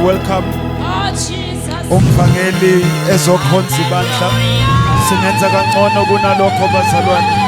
welcome umvangeli ezokhonza ibandla singenza kangcono kunalokho bazalwane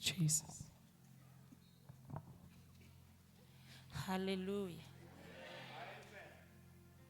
Jesus. Hallelujah.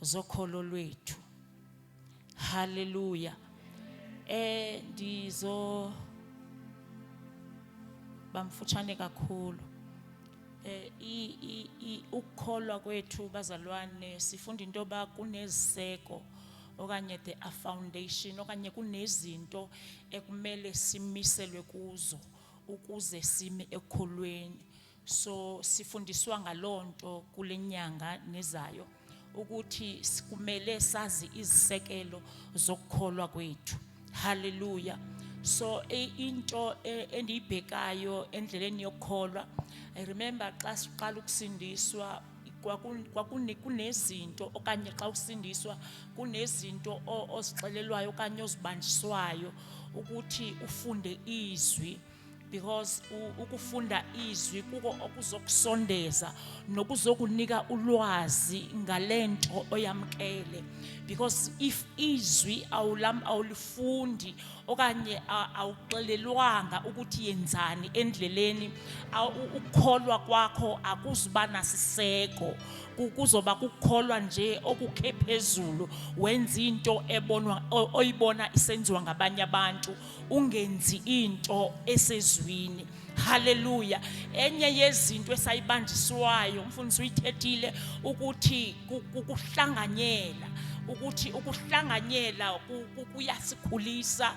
zokholo lwethu haleluya eh ndizo bamfutshane kakhulu eh i ukukholwa kwethu bazalwane sifunda into ba kuneziseko okanye the a foundation okanye kunezinto ekumele simiselwe kuzo ukuze sime ekholweni so sifundiswa ngalonto kulenyanga nezayo ukuthi sikumele sazi izisekelo zokukholwa kwethu haleluya so e, into e, endiyibhekayo endleleni yokukholwa i remember xa siqala ukusindiswa kwakunezinto okanye xa usindiswa kunezinto ozixelelwayo okanye ozibanjiswayo ukuthi ufunde izwi because ukufunda izwi kuko okuzokusondeza nokuzokunika ulwazi ngalento oyamkele because if izwi awulam awulifundi okanye awuxelelwanga ukuthi yenzani endleleni ukukholwa kwakho akuzuba nasiseko kuzoba kukholwa nje okukhe phezulu wenza into ebonwa oyibona isenziwa ngabanye abantu ungenzi into esezwini haleluya enye yezinto esayibanjiswayo umfundisi uyithethile ukuthi ukuhlanganyela ukuthi ukuhlanganyela kuyasikhulisa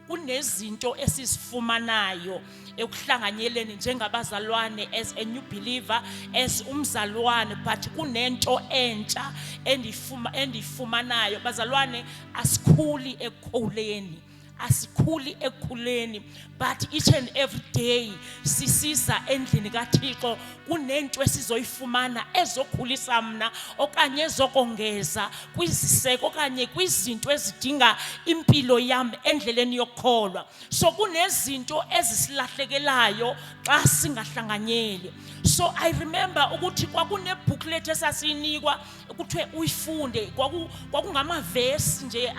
kunezinto esizifumanayo ekuhlanganyeleni njengabazalwane as a new believer as umzalwane but kunento entsha endifuma endifumanayo bazalwane asikhuli ekukhuleni asikhuli ekukhuleni but each and every day sisiza endlini kaThixo kunento esizoyifumana ezokhulisa mina okanye ezokongeza kwiziseko okanye kwizinto ezidinga impilo yami endleleni yokukholwa so kunezinto ezisilahlekelayo xa singahlanganyeli so i remember ukuthi kwakune booklet esasiyinikwa kuthiwe uyifunde kwakungamavesi nje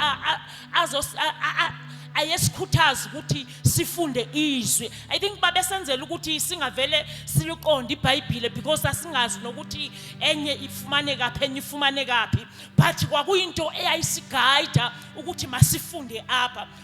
ayesikhuthaza ukuthi sifunde izwi i think babesenzela ukuthi singavele siliqonde ibhayibhile because sasingazi nokuthi enye ifumane kaphi enye ifumane kaphi but kwakuyinto eyayisigayida ukuthi masifunde apha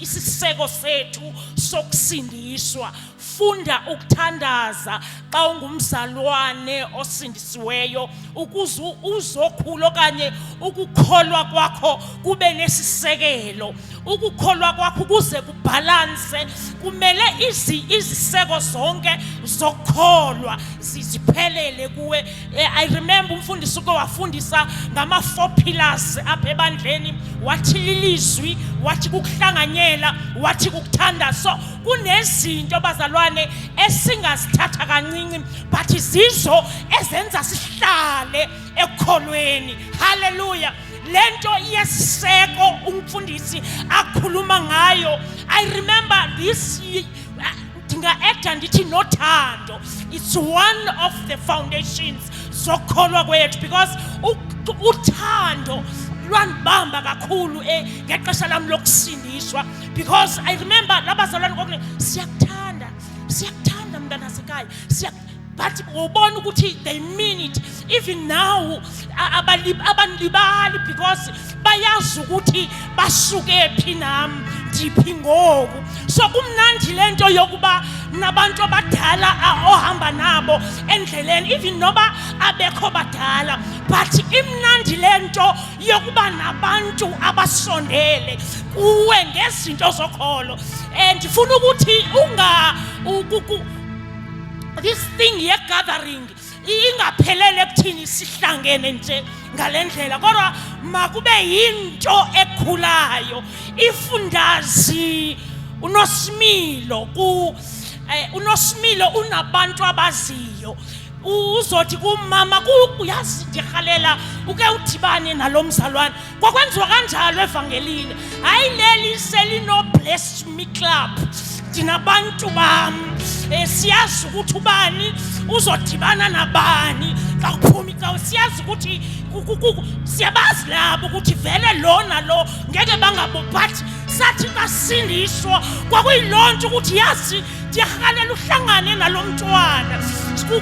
isiseko sethu sokusindiswa funda ukuthandaza xa ungumzalwane osindisiweyo ukuze uzokhula okanye ukukholwa kwakho kube nesisekelo ukukholwa kwakho ukuze kubhalanse kumele iziseko zonke zokukholwa ziziphelele kuwe Eh, I remember umfundisi uke wafundisa ngama four pillars apha ebandleni wathi lilizwi wathi kukuhlanganyela wathi kukuthanda so kunezinto bazalwane esingazithatha kancinci but zizo ezenza sihlale ekukholweni haleluya lento yesiseko umfundisi akhuluma ngayo i remember this ndinga-ekta ndithi nothando it's one of the foundations zokukholwa kwethu because uthando lwandibamba kakhulu eh, ngexesha lam lokusindiswa because i remember labazalwane kokune siyakuthanda siyakuthanda mntanasekhaya but ubona ukuthi they mean it even now abanilibali because bayazi ukuthi basuke phi nami ndiphi ngoku so kumnandi le nto yokuba nabantu abadala ohamba nabo endleleni even noba abekho badala but imnandi le nto yokuba nabantu abasondele kuwe ngezinto zokholo um ndifuna ukuthi unga this thing ye gathering ingaphelele ekuthini sihlangene nje ngalendlela kodwa makube yinto ekhulayo ifundazi unosimilo ku eh, unosimilo unabantu abaziyo uzothi kumama uyazi ndihalela uke udibane nalo mzalwane kwakwenziwa kanjalo evangelini hayi leli selinobless me club thina bantu bam eh, siyazi ukuthi ubani uzodibana nabani xa kuphuma icawe siyazi ukuthi siyabazi labo ukuthi vele lona lo ngeke bangabo but sathi basindiswa kwakuyiloo nto ukuthi yazi ndiyahalela uhlangane nalo mntwana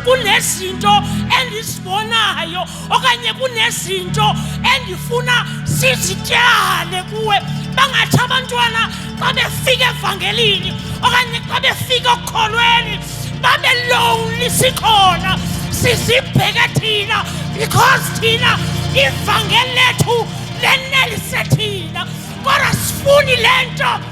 kunezinto endizibonayo okanye kunezinto endifuna sizityale kuwe bangathi abantwana xa befika evangelini okanye xa befika okukholweni babe lonely sikhona sizibheke thina because thina ivangeli lethu lenelise thina kodwa sifuni le nto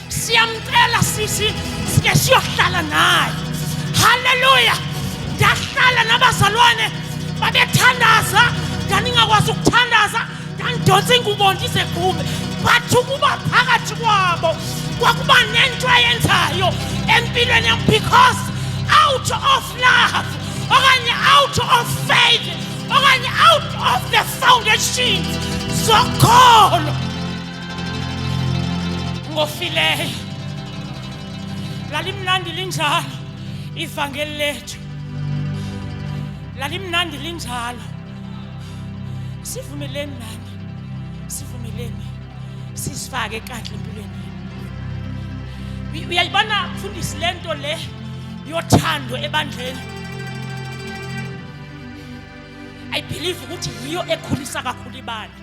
siyamcela sisi sike siyohlala naye haleluya ndahlala nabazalwane babethandaza ndandingakwazi ukuthandaza ndandidonsa ingubo ndizegqume but ukuba phakathi kwabo kwakuba nento ayenzayo empilweni yam because out of love okanye out of faith okanye out of the foundations zokholo ngofileyo lalimnandi linjalo ivangeli lethu lalimnandi linjalo sivumeleni nani sivumeleni sisifake kahle empilweni yenu uyayibona mfundisi le nto le yothando ebandleni i believe ukuthi yiyo ekhulisa kakhulu ibandla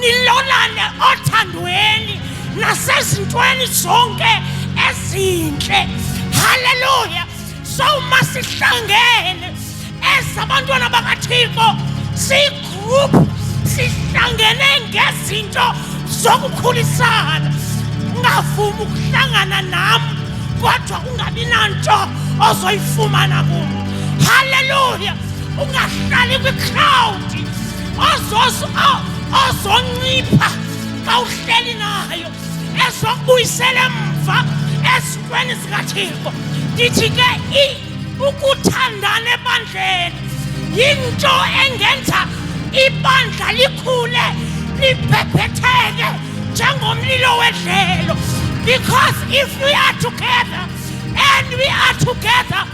nilolane othandweni nasezintweni zonke ezinhle haleluya so uma sihlangene ezabantwana bakathixo sigroup sihlangene ngezinto zokukhulisana ungavumi ukuhlangana nam kodwa ungabi nanto ozoyifumana kum haleluya ungahlali kwicrowdi ozoncipha xa uhleli nayo ezokubuyisela emva ezintweni zikathixo ndithi ke i ukuthandana ebandleni yinto engenza ibandla likhule libhebhetheke njengomlilo wedlelo because if we are together and we are together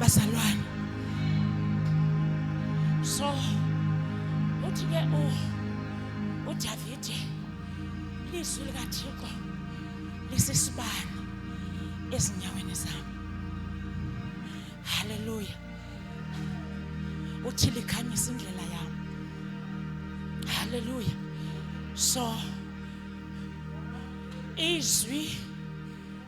bazalwane so uthi ke u uDavide izwi likaThixo lisisibani ezinyaweni zami haleluya uthi likhanyisa indlela yami haleluya so izwi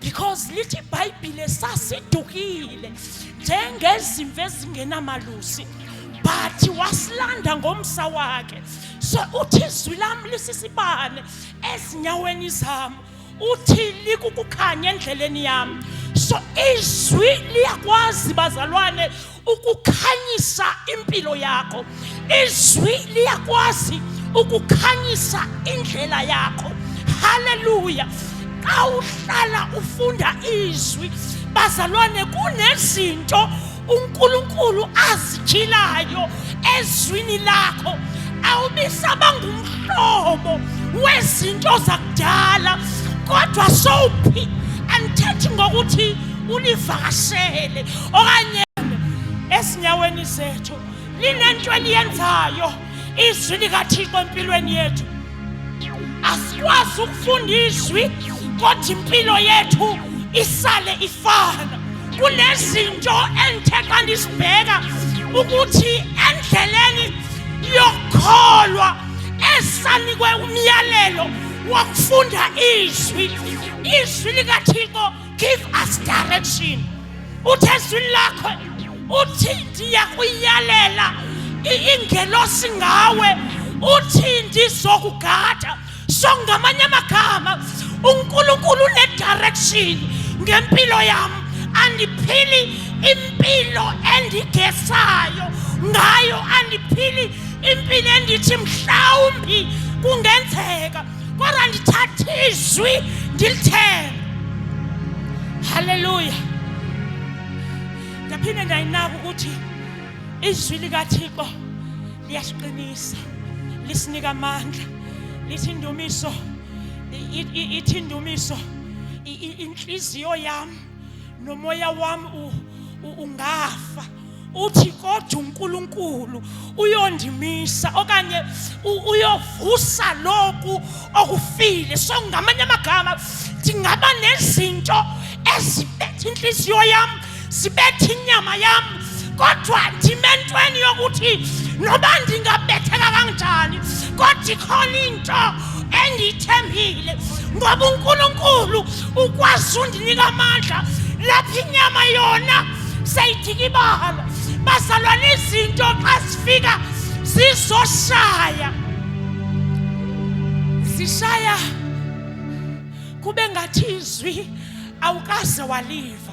because lithi ibhayibhile sasidukile njengezimvu ezingenamalusi but wasilanda ngomsa wakhe so uthi izwi lami lisisibane ezinyaweni zami uthi likukukhanya endleleni yami so izwi liyakwazi bazalwane ukukhanyisa impilo yakho izwi liyakwazi ukukhanyisa indlela yakho haleluya xa uhlala ufunda izwi bazalwane kunezinto uNkulunkulu azithilayo ezwini lakho awubisaba ngumhlobo wezinto zakudala kodwa sowuphi andithethi ngokuthi ulivakashele okanye esinyaweni sethu linento eliyenzayo izwi likathixo empilweni yethu asikwazi ukufunda izwi kodwa impilo yethu isale ifana kunezinto engithe xa ndisibheka ukuthi endleleni yokukholwa esanikwe umyalelo wakufunda izwi izwi likathixo give us direction uthi ezwini lakho uthi ndiyakuyalela ingelosi ngawe uthi ndizokugada so ngamanye amagama unkulunkulu unedirection ngempilo yam andiphili impilo endigesayo ngayo andiphili impilo endithi mhlawumbi kungenzeka kodwa ndithatha izwi ndilithembe haleluya ndaphinde ndayinaka ukuthi izwi likathixo liyasiqinisa lisinika amandla lithi indumiso ithi indumiso inhliziyo yami nomoya wami ungafa uthi kodwa uNkulunkulu uyondimisa okanye uyovusa lokhu okufile so ngamanye amagama ndingaba nezinto ezibetha inhliziyo yami sibetha inyama yami kodwa ndime entweni yokuthi noba ndingabetheka kanjani kodwa ikhona into engiyithembile ngoba unkulunkulu ukwazi undinika amandla lapho inyama yona seyidikibala bazalwane izinto xa zifika zizoshaya zishaya kube ngathi izwi awukaze waliva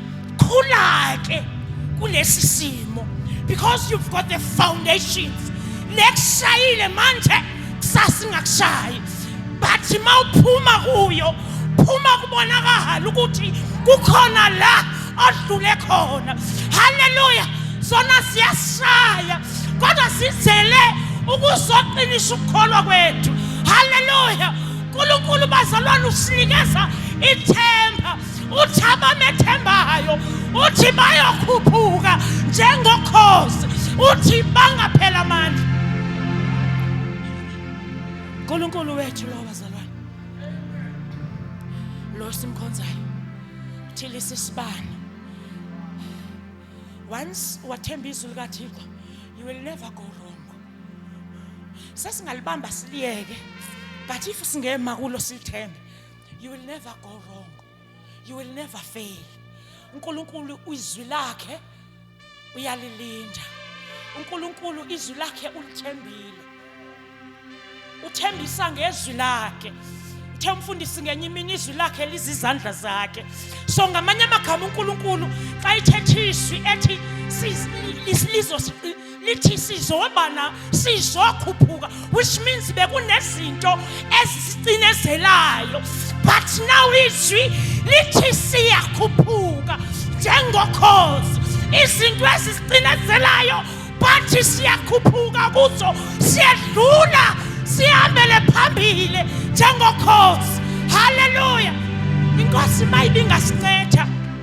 khula ke kulesi simo because you've got the foundations nekushayile manje kusasa ingakushayi but mawuphuma kuyo phuma kubona kahala ukuthi kukhona la odlule khona haleluya sona siyashaya kodwa sizele ukuzoqinisa ukukholwa kwethu haleluya uNkulunkulu bazalwane usinikeza ithemba uthi abamethembayo uthi bayokhuphuka njengokhozi uthi bangaphela amandla uNkulunkulu wethu lo bazalwane lo simkhonzayo uthilisa isibani once wathemba izwi likaThixo you will never go wrong sesingalibamba siliyeke but if singema kulo silithembe you will never go wrong you will never fail uNkulunkulu izwi lakhe uyalilinda uNkulunkulu izwi lakhe ulithembile uthembisa ngezwi lakhe uthe umfundisi ngenye imini izwi lakhe lizizandla zakhe so ngamanye amagama uNkulunkulu xa ithethisa ethi lizos lithi sizobana sizokhuphuka which means bekunezinto ezisicinezelayo but now izwi lithi siyakhuphuka njengokhozi izinto ezisicinezelayo bathi siyakhuphuka kuzo siyedlula sihambele phambili njengokhozi haleluya inkosi mayibingasincethi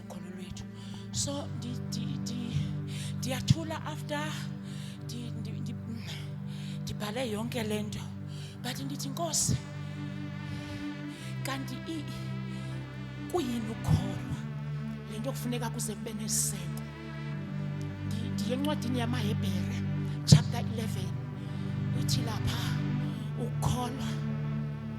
khona lwethu so ndiyathula after ndibhale yonke le nto but ndithi nkosi kanti kuyini ukholwa le nto kufuneka kuze kube neseko ndiye encwadini yamahebhere chapter 11 ithi lapha ukholwa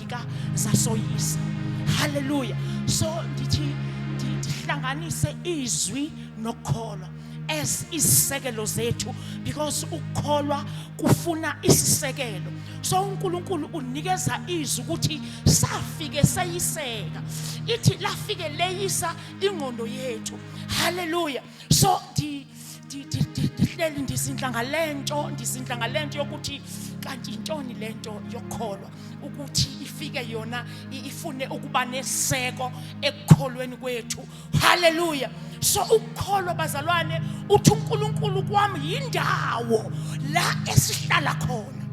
zafika zasoyisa haleluya so ndithi ndihlanganise izwi nokukholwa as isisekelo zethu because ukukholwa kufuna isisekelo so uNkulunkulu unikeza izwi ukuthi safike seyiseka ithi lafike leyisa ingqondo yethu haleluya so ndihleli ndizindla ngale nto ndizindla ngale nto yokuthi kanti yintoni le nto yokukholwa ukuthi ifike yona ifune ukuba neseko ekukholweni kwethu haleluya so ukukholwa bazalwane uthi uNkulunkulu kwami yindawo la esihlala khona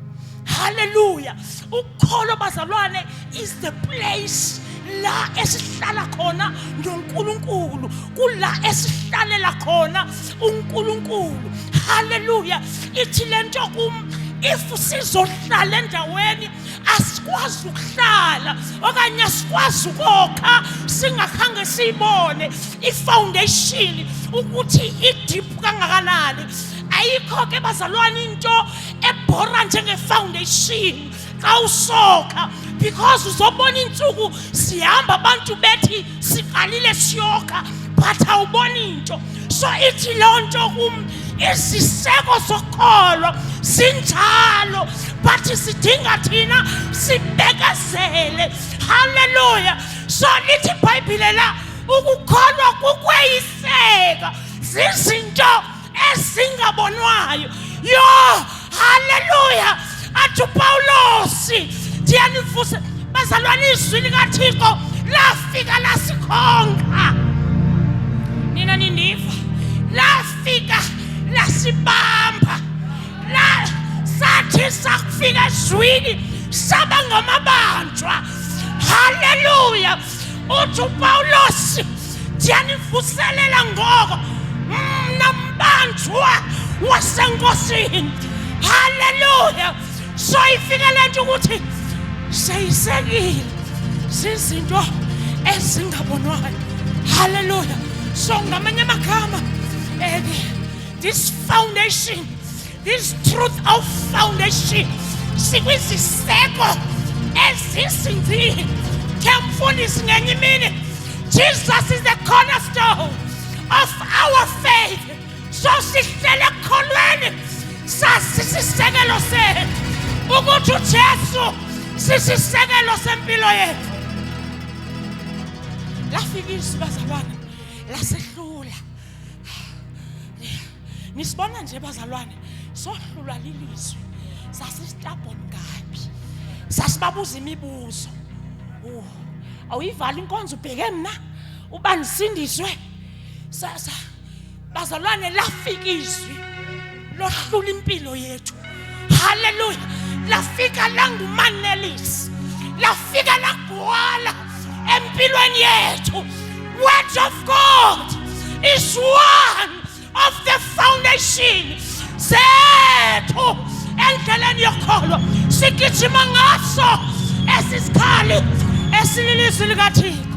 haleluya ukholo bazalwane is the place la esihlala khona noNkulunkulu kula esihlalela khona uNkulunkulu haleluya ithi lento kum if sizohlala endaweni asikwazi ukuhlala okanye asikwazi ukokha singakhange siyibone ifoundation ukuthi idip kangakanani ayikho ke bazalwane into ebhora njengefoundation xa usoka because uzobona iintsuku sihamba abantu bethi siqalile siyoka but awuboni into so ithi loo nto kum iziseko zokholo sinjalo but sidinga thina sibekezele halleluya so lithi ibhayibhile la ukukholwa kukweyiseka zizinto ezingabonwayo yo haleluya athi upawulosi ndiyanivusa bazalwane izwi likathixo lafika lasikhonqa nina nindiva lafika lasibamba la sathi sakufika ezwini saba ngamabanjwa haleluya uthi upawulos ndiyanivuselela ngoko mna mbanjwa wasenkosini halleluya soyifike le nto ukuthi seyisekile zizinto ezingabonwayo halleluya so ngamanye amagama um this foundation This truth of foundation sikwiziseko ezisinzile kemfundisi ngenye imini Jesus is the cornerstone of our faith so sihlele ekukholweni sasisisekelo sethu ukuthi uJesu sisisekelo sempilo yethu lafika izwi bazalwane lasehlula nisibona nje bazalwane sohlulwa lilizwi sasistabon kabi sasibabuza imibuzo uh, awuyivala inkonzo ubheke mina uba nisindiswe sasa bazalwane lafika izwi lohlula impilo yethu haleluya lafika langumanelisi lafika lagwala empilweni yethu word of god is one of the foundation zethu endleleni yokholo sigijima ngaso esisikali esililizwi likathixo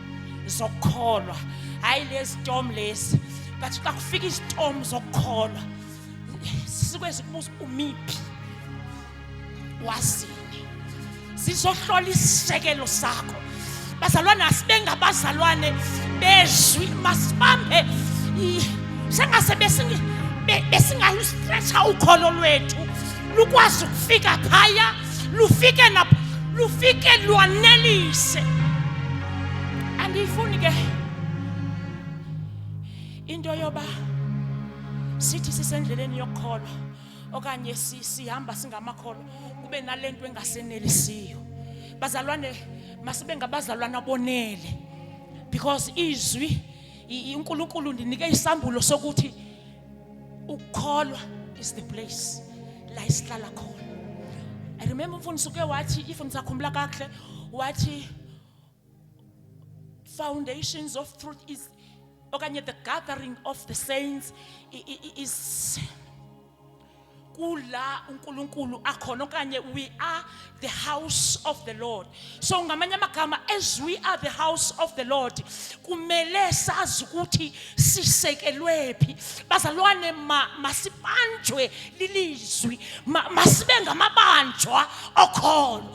zokukholwa hayi lesitom lesi but xa kufika isitom zokukholwa sikwezi kubuza umiphi wazini sizohlola isisekelo sakho bazalwane asibengabazalwane bezwi masibambe sengase besingalusitretha ukholo lwethu lukwazi ukufika phaya lufike lapho lufike lwanelise andiyifuni ke into yoba sithi sisendleleni yokukholwa okanye sihamba singamakholwa kube nalento engasenelisiyo bazalwane masibe ngabazalwana bonele because izwi uNkulunkulu ndinike isambulo sokuthi ukukholwa is the place la isihlala khona i remember umfundisi uke wathi if nisakhumbula kahle wathi foundations of truth is okanye the gathering of the saints is kula uNkulunkulu akhona okanye we are the house of the Lord so ngamanye amagama as we are the house of the Lord kumele sazi ukuthi sisekelwephi bazalwane masibanjwe lilizwi masibe ngamabanjwa okholo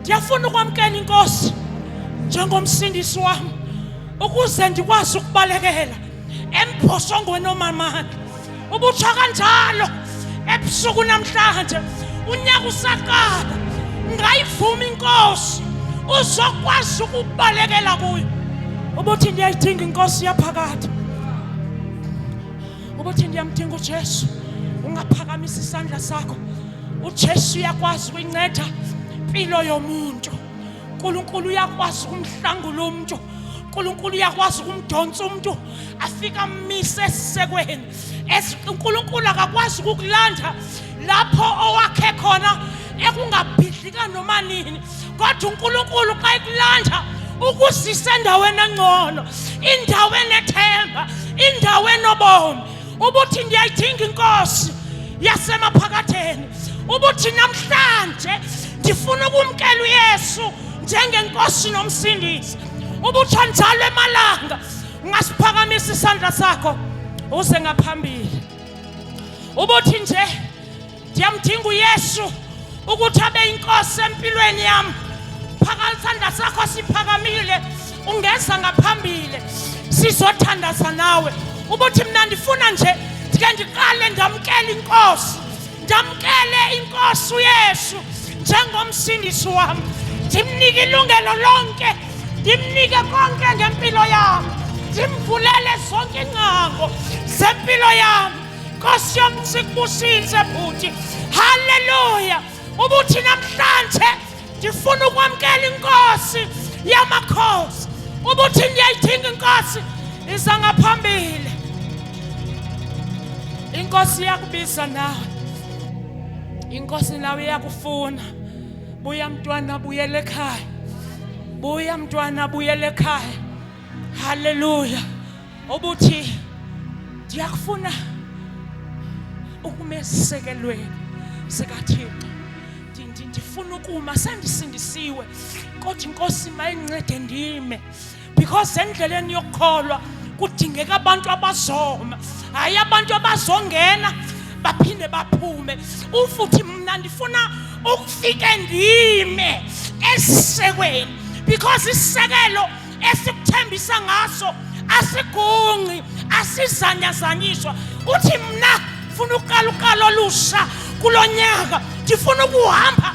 ndiyafuna ukwamkela inkosi njengomsindisi wami ukuze ndikwazi ukubalekela emphosongweni omamandla ubutsha kanjalo ebusuku namhlanje unyaka usaqala ngayivuma inkosi uzokwazi ukubalekela kuyo ubuthi ndiyayidinga inkosi yaphakade ukuthi ndiyamdinga uJesu ungaphakamisa isandla sakho uJesu uyakwazi ukuyinceda impilo yomuntu uNkulunkulu uyakwazi ukumhlangula umuntu uNkulunkulu uyakwazi ukumdonsa umuntu afika amise esisekweni uNkulunkulu akakwazi ukukulanda lapho owakhe khona ekungabhidlika noma nini kodwa uNkulunkulu xa ekulanja ukusisa endaweni engcono indawo enethemba indawo enobomi ubuthi ndiyayidinga inkosi yasemaphakatheni ubuthi namhlanje ndifuna ukumkela uYesu njengenkosi nomsindisi ubuthi njalo emalanga ungasiphakamisa isandla sakho uze ngaphambili ubuthi nje ndiyamdinga uyesu ukuthi abe inkosi empilweni yam phaka isandla sakho siphakamile ungeza ngaphambili sizothandaza nawe ubuthi mna ndifuna nje ndike ndiqale ndamkele inkosi ndamkele inkosi uyesu njengomsindisi wam ndimnike ilungelo lonke ndimnike konke ngempilo yam ndimvulele zonke iingcango zempilo yam nkosi yam sikubusise bhuti halleluya ubuthi namhlanje ndifuna ukwamkela inkosi yamakhosi ubuthi ndiyayidinga inkosi iza ngaphambili inkosi iyakubiza nawe inkosi nawe iyakufuna buya mntwana buyela ekhaya buya mntwana buyela ekhaya haleluya obuthi ndiyakufuna ukumesekelweni sikathixo ndifuna ukuma sendisindisiwe kodwa inkosi mayincede ndime because endleleni yokukholwa kudingeka abantu abazoma hayi abantu abazongena baphinde baphume ufuthi mna ndifuna ukufike ndime esisekweni because isisekelo esikuthembisa ngaso asigunqi asizanyazanyiswa uthi mna funa uqala uqala olusha kulo nyaka ndifuna ukuhamba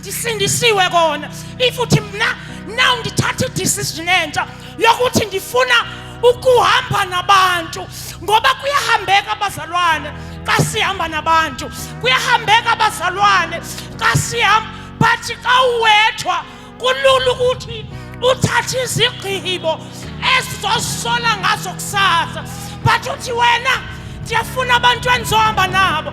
ndisindisiwe kona if uthi mna now ndithatha idecision entsha yokuthi ndifuna ukuhamba nabantu ngoba kuyahambeka abazalwane xa sihamba nabantu kuyahambeka abazalwane xa sihamba but xa uwethwa kulula ukuthi uthathe izigqibo ezizosola ngazo kusasa but uthi wena ndiyafuna abantu endizohamba nabo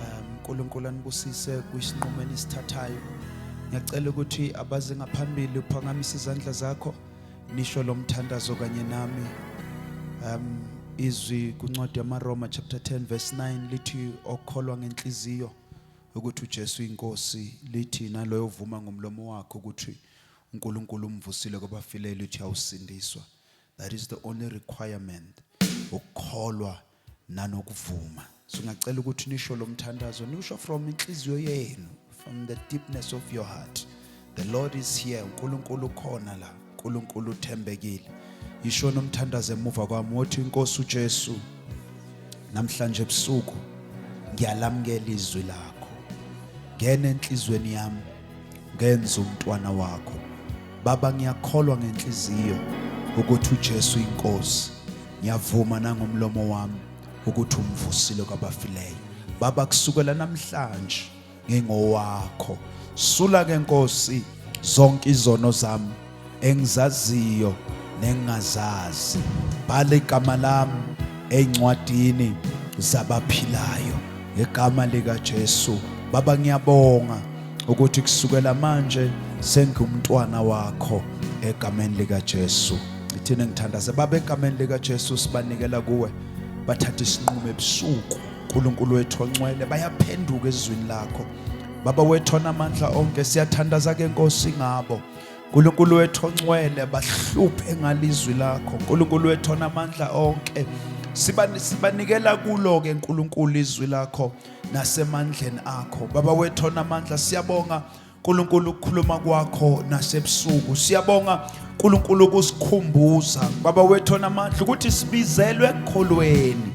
um unkulunkulu anibusise kwisinqumo enisithathayo ngiyacela ukuthi abaze ngaphambili uphakamisa izandla zakho nisho lo mthandazo kanye nami um izwi kuncwadi yamaroma chapter 10 verse 9 lithi okholwa ngenhliziyo ukuthi uJesu inkosi lithi naloyo uvuma ngomlomo wakhe ukuthi uNkulunkulu umvusile kwabafileyo lithi awusindiswa that is the only requirement ukukholwa nanokuvuma so ngiyacela ukuthi nisho lo mthandazo niwusho from inhliziyo yenu from the deepness of your heart the lord is here unkulunkulu ukhona la unkulunkulu uthembekile yisho nomthandazo emuva kwami wothi inkosi ujesu namhlanje ebusuku ngiyalamukela izwi lakho ngena enhlizweni yami ngenza umntwana wakho baba ngiyakholwa ngenhliziyo ukuthi uJesu inkosi ngiyavuma nangomlomo wami ukuthi umvusile kwabafileyo baba kusukela namhlanje ngingowakho sula ke nkosi zonke izono zami engizaziyo nengingazazi bhala igama lami encwadini zabaphilayo ngegama lika Jesu baba ngiyabonga ukuthi kusukela manje sengumntwana wakho egameni lika Jesu ngithina ngithandaze baba egameni lika Jesu sibanikela kuwe bathatha isinqumo ebusuku uNkulunkulu wethu oncwele bayaphenduka ezwini lakho baba wethu onamandla onke siyathandaza ke Nkosi ngabo Nkulunkulu wethu oncwele bahluphe ngalizwi lakho Nkulunkulu wethu onamandla onke sibanikela kulo ke Nkulunkulu izwi lakho nasemandleni akho baba wethu onamandla siyabonga Nkulunkulu ukukhuluma kwakho nasebusuku siyabonga Nkulunkulu ukusikhumbuza baba wethu onamandla ukuthi sibizelwe ekholweni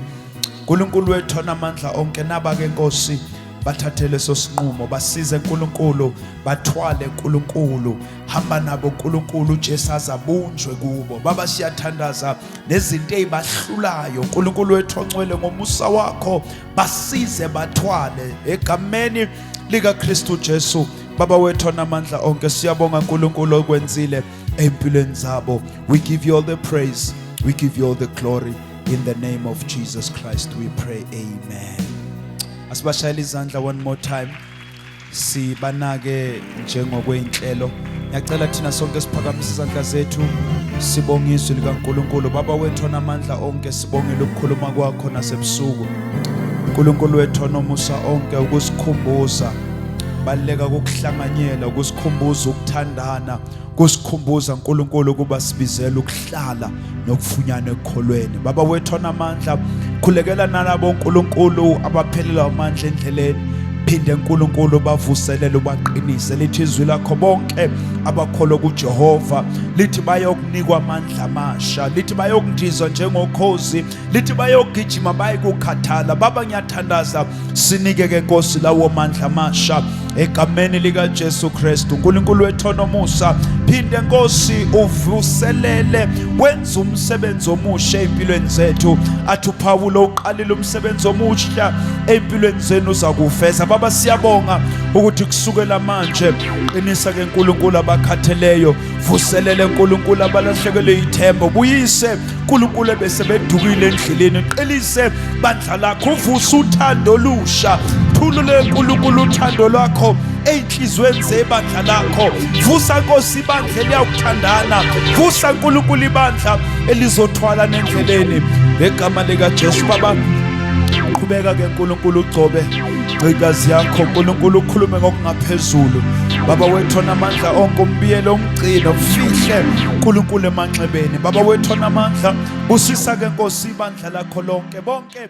Nkulunkulu wethu onamandla onke naba ke Nkosi bathathe leso sinqumo basize uNkulunkulu bathwale uNkulunkulu hamba nabo uNkulunkulu uJesu azabunjwe kubo baba siyathandaza nezinto ezibahlulayo uNkulunkulu wethu oncwele ngomusa wakho basize bathwale egameni lika Kristu Jesu baba wethu namandla onke siyabonga uNkulunkulu okwenzile empilweni zabo we give you all the praise we give you all the glory in the name of Jesus Christ we pray amen Asibashayela izandla one more time. Sibanake njengokwenhlelo. Ngiyacela thina sonke siphakamise izandla zethu sibonge izwi likaNkuluNkulu. Baba wethu onamandla onke sibongela ukukhuluma kwakho nasebusuku. uNkulunkulu wethu onomusa onke ukusikhumbuza baleka ukuhlanganyela ukusikhumbuza ukuthandana kusikhumbuza uNkulunkulu ukuba sibizele ukuhlala nokufunyana ekukholweni baba wethu onamandla khulekela nalabo uNkulunkulu abaphelelwa amandla endleleni phinde uNkulunkulu bavuselele ubaqinise lithi izwi lakho bonke abakholwa kuJehova lithi bayokunikwa amandla amasha lithi bayokundizwa njengokhozi lithi bayogijima baye kukhathala baba ngiyathandaza sinike ke Nkosi lawo mandla amasha egameni lika Jesu Kristu uNkulunkulu wethu onomusa phinde Nkosi uvuselele wenza umsebenzi omusha empilweni zethu athi uPawulo uqalile umsebenzi omusha empilweni zenu uzakufeza baba siyabonga ukuthi kusukela manje qinisa ke uNkulunkulu abakhatheleyo vuselele uNkulunkulu abalahlekelwe ithemba buyise uNkulunkulu ebesebedukile endleleni qelise bandla lakho uvuse uthando olusha thulule uNkulunkulu uthando lwakho ey'nhliziyweni zebandla lakho vusa nkosi ibandla eliyawuthandana vusa nkulunkulu ibandla elizothwala nendleleni ngegama likajesu baba qhubeka ke nkulunkulu ugcobe gcikazi yakho nkulunkulu ukhulume ngokungaphezulu baba wethona amandla onke umbiyelo gcina ufihle uNkulunkulu emanxebeni baba wethu onamandla busisa ke Nkosi ibandla lakho lonke bonke